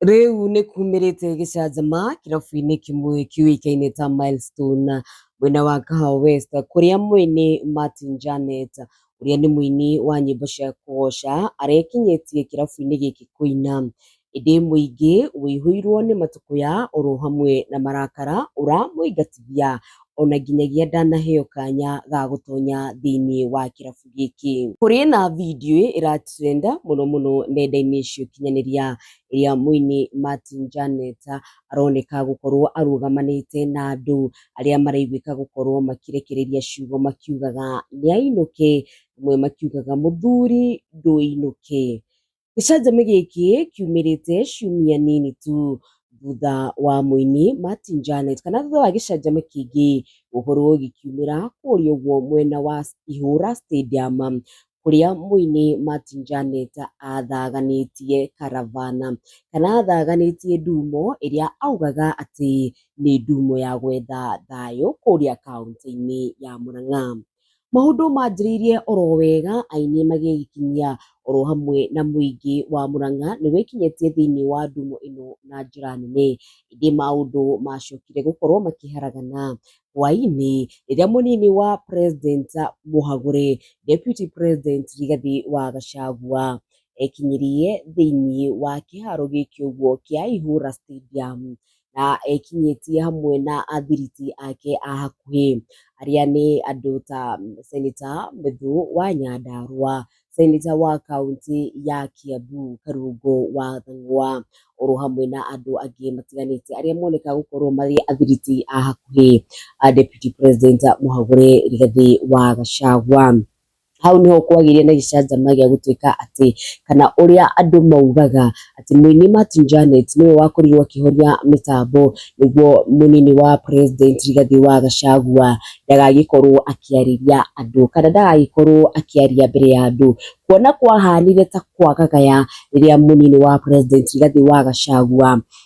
Rĩu nĩ kumĩrĩte gĩcanjama kĩrabu-inĩ kĩmwe kĩũĩkaine ta Milestone mwena wa Kahawa West kũrĩa mwene Martin Janet ũrĩa nĩ mũini wa nyĩmbo cia kũgoca arekinyĩtie kĩrabu-inĩ gĩkĩ kũina. Ĩndĩ mũingĩ ũihũirwo nĩ matũkũya oro hamwe na marakara ũramũingatithia ona nginyagia ndanaheo kanya ga gũtonya thĩinĩ wa kĩrabu gĩkĩ. Kũrĩ na video ĩra trend mũno mũno nenda-inĩ cia ũkinyanĩria ĩrĩa mũini Martin Janet aroneka gũkorwo arũgamanĩte na andũ arĩa maraiguĩka gũkorwo makĩrekereria ciugo makiugaga nĩainũke, amwe makiugaga mũthuri ndũinũke. Gĩcanjama gĩkĩ kiumĩrĩte ciumia nini tu thutha wa mũini Martin Janet kana thutha wa gĩcanjama kĩngĩ gũkorwo gĩkiumĩra kũrĩa ũguo mwena wa Ihũra Stadium, kũrĩa mũini Martin Janet athaganĩtie Karavana, kana athaganĩtie ndumo ĩrĩa augaga atĩ nĩ ndumo ya gwetha thayũ kũrĩa kauntĩ-inĩ ya Mũrang'a. Maũndũ manjĩrĩirie oro wega, ainĩ magĩgĩkinyia oro hamwe na mũingĩ wa Mũrang'a nĩ wĩkinyĩtie thĩinĩ wa ndũmũ ĩno na njĩra nene. Ĩndĩ maũndũ macokire gũkorwo makĩharagana. Hwainĩ, rĩrĩa mũnini wa president Mũhagũre, deputy president Rigathi wa Gachagua, ekinyirie thĩinĩ wa kĩharo gĩkĩ ũguo kĩa Ihũra Stadium, na ekinyĩtie hamwe na athiriti ake a hakuhĩ arĩa nĩ andũ ta seneta Methũ wa Nyandarũa, seneta wa kaũntĩ ya Kiambu Karungo wa Thũng'wa, oro hamwe na andũ angĩ matiganĩte arĩa monekaga gũkorwo marĩ athiriti a hakuhĩ a Deputy President Mũhagũre Rigathĩ wa Gachagua. hau niho kwagĩire na gĩcanjama gĩa gũtuĩka atĩ kana ũrĩa andũ maugaga atĩ mũini Martin Janet nĩwe wakorirwo akĩhoria mĩtambo nĩguo mũnini wa president Rigathĩ wa Gachagua ndagagĩkorwo akĩarĩria andũ kana ndagagĩkorwo akĩaria mbere ya andũ kuona kwahanire ta kwagagaya rĩrĩa mũnini wa president Rigathĩ wa Gachagua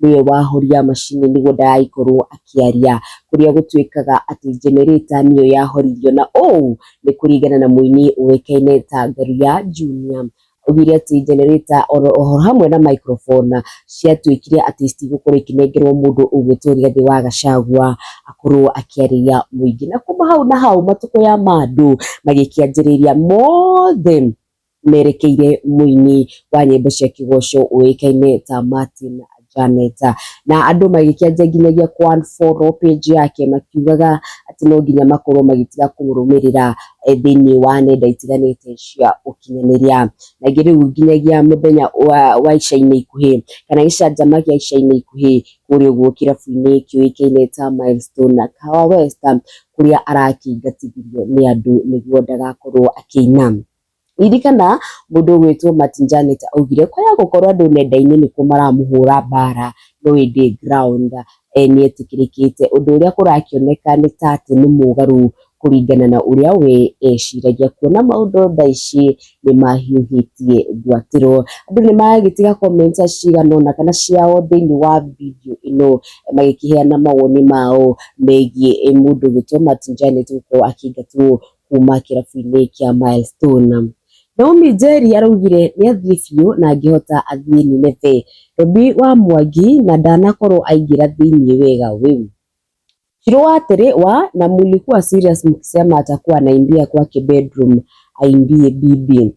nĩwe wahoria macini nĩguo ndagagĩkorwo akĩaria, kũrĩa gũtuĩkaga atĩ generator nĩyo yahoririo, na ũũ nĩ kũringana na mũini ũĩkaine ta Ngaruiya Junior, augire atĩ generator oro hamwe na microphone ciatuĩkire atĩ citigũkorwo ikĩnengerwo mũndũ ũgwĩtwo Rigathĩ wa Gacagua akorwo akĩarĩria mũingĩ, na kuma hau na hau matũkũya ma andũ magĩkĩanjĩrĩria mothe merekeire mũini wa nyĩmbo cia kĩgoco ũĩkaine ta Martin Janet na andũ magĩkĩanjia nginyagia kũ unfollow page yake makiugaga atĩ no nginya makorwo magĩtiga kũmũrũmĩrĩra eh, thĩinĩ wa nenda itiganĩte cia ũkinyanĩria na ingĩ rĩu nginyagia mũthenya wa, wa ica-inĩ ikuhĩ kana gĩcanjama gĩa ica-inĩ ikuhĩ kũrĩa ũguo kĩrabu-inĩ kĩũĩkaine ta Milestone na Kawa West kũrĩa arakĩingatithirio nĩ andũ nĩguo ndagakorwo akĩina Ririkana mũndũ ũgwĩtwo Martin Janet augire kwaya gũkorwo andũ nenda-inĩ nĩkuo maramũhũra mbara no ĩndĩ ground nĩ etĩkĩrĩkĩte. Ũndũ ũrĩa kũrakĩoneka nĩ ta atĩ nĩ mũgarũ kũringana na ũrĩa we eciragia kuona maũndũ thaa ici nĩ mahiũhĩtie gwatĩrwo. Andũ nĩ maragĩtiga comment cigana ũna kana ciao thĩiniĩ wa video ĩno magĩkĩheana mawoni mao megiĩ mũndũ ũgwĩtwo Martin Janet gũkorwo akĩingatwo kuma kĩrabu-inĩ kĩa Milestone. Naomi Njeri araugire nĩ athiĩ biũ na angĩhota athiĩ Nineve. Robi wa Mwangi na ndanakorwo aingĩra thĩinĩ wega wĩu. Shiro wa atĩrĩ wa na mulikuwa serious mkisema atakuwa anaimbia kwake bedroom aimbie bibi.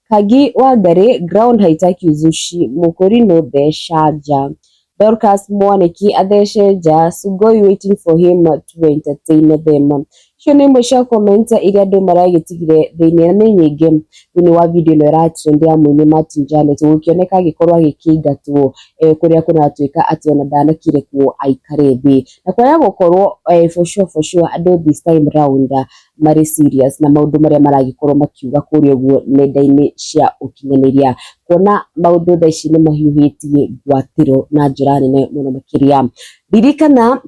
Kangi Wangarĩ, Ground haitaki uzushi, Mũkũri no theca nja. Dorcas Mwaniki athece nja, Sugoi waiting for him to entertain them. Icio nĩ imwe cia comment iria andũ maragĩtigire thĩinĩ na nĩ nyingĩ thĩinĩ wa video ĩno ĩratrend ya mũini Martin Janet gũkĩoneka agĩkorwo agĩkĩingatwo eh, kũrĩa kũratuĩka atĩ ona ndanakire kuo aikare thĩ na kwaga gũkorwo eh, for sure for sure andũ this time round marĩ serious na maũndũ marĩa maragĩkorwo makiuga kũrĩa ũguo nenda-inĩ cia ũkinyanĩria kuona maũndũ thaa ici nĩ mahiũhĩtie ngwatĩro na njĩra nene mũno makĩria ririkana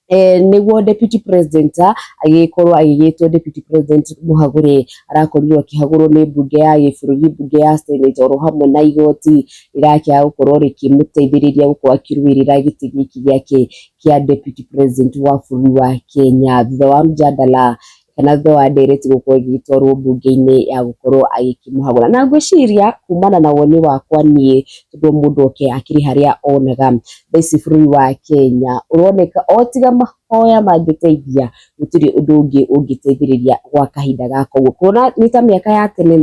eh, nĩguo deputy president ah, agĩkorwo agĩgĩtwo deputy president mũhagũre arakorirwo akĩhagũrwo nĩ mbunge ya gĩbũrũri mbunge ya senate oro hamwe na igoti rĩrakĩaga gũkorwo rĩkĩmũteithĩrĩria gũkorwo akĩrũĩrĩra gĩtĩ gĩkĩ gĩake kĩa deputy president wa bũrũri wa Kenya thutha wa mjadala kana thutha wa ndereti gũkorwo ĩgĩtwarwo mbunge-inĩ ya gũkorwo agĩkĩmũhagũra na ngwĩciria kumana na woni wakwa niĩ tondũ mũndũ oke akĩrĩ harĩa onaga thaa ici bũrũri wa Kenya ũroneka o tiga mahoya mangĩteithia gũtirĩ ũndũ ũngĩ ũngĩteithĩrĩria gwa kahinda gaka ũguo kuona nĩ ta mĩaka ya tene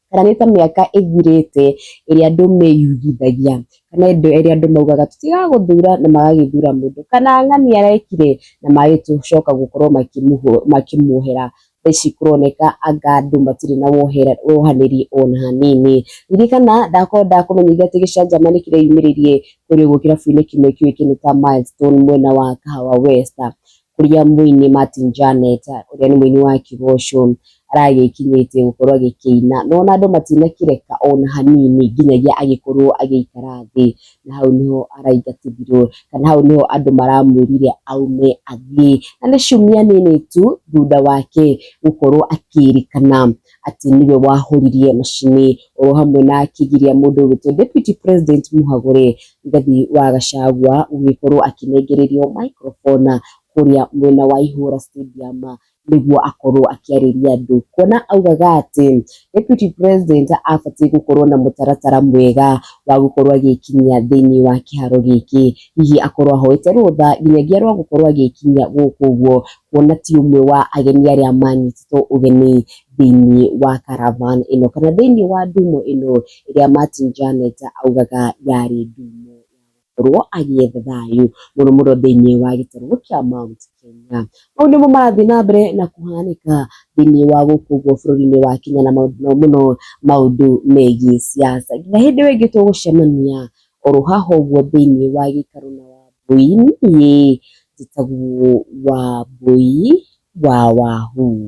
kana nĩ ta mĩaka ĩthirĩte ĩrĩa andũ meyugithagia kana ĩndo ĩrĩa andũ maugaga tũtigagũthura na magagĩthura mũndũ kana ng'ani arekire na magagĩcoka gũkorwo makĩmũhũ- makĩmuohera thaa ici kũroneka anga andũ matirĩ na wohera- wohanĩri ona hanini ririkana ndakorwo ndakũmenyithia atĩ gĩcanjama nĩ kĩreyumĩrĩrie kũrĩ ũguo kĩrabu-inĩ kĩmwe kĩũĩkaine ta Milestone mwena wa Kahawa West kũrĩa mũini Martin Janet ũrĩa nĩ mũini wa Kĩgoco aragĩkinyĩtie gũkorwo agĩkĩina no ona andũ matinakĩreka ona hanini nginyagia agĩkorwo agĩikara thĩ na hau nĩho araingatithirwo kana hau nĩho andũ maramwĩrire aume athiĩ na nĩ ciumia nini tu thutha wake gũkorwo akĩrĩkana atĩ nĩwe wahũririe macini oro hamwe na akĩgiria mũndũ ũgĩtwo Deputy President Mũhagũre Rigathi wa Gachagua gũgĩkorwo akĩnengererio microphone kũrĩa mwena wa Ihũra Stadium nĩguo akorwo akĩarĩria andũ. Kuona augaga atĩ Deputy President abatiĩ gũkorwo na mũtaratara mwega wa gũkorwo agĩkinyia thĩinĩ wa kĩharo gĩkĩ. Hihi akorwo ahoete rũtha nginyagia rwa gũkorwo agĩkinyia gũkũ ũguo kuona ti ũmwe wa ageni arĩa manyitĩte Kristo ũgeni thĩinĩ wa caravan ĩno kana thĩinĩ wa ndumo ĩno ĩrĩa Martin Janet augaga yarĩ ndumo ya gũkorwo agĩetha thayũ mũno mũno thĩinĩ wa gĩtarũ kĩa Mount Kenya. Mau nĩmo marathiĩ na mbere na kũhanĩka thĩinĩ wa gũkũ ũguo bũrũri-inĩ wa Kenya na mũno mũno maũndũ megiĩ siasa. Nginya hĩndĩ ĩyo ĩngĩ tũgũcemania O ro haha ũguo thĩinĩ wa gĩikaro na wa mbũi, niĩ njĩtagwo wa mbũi wa Wahuu.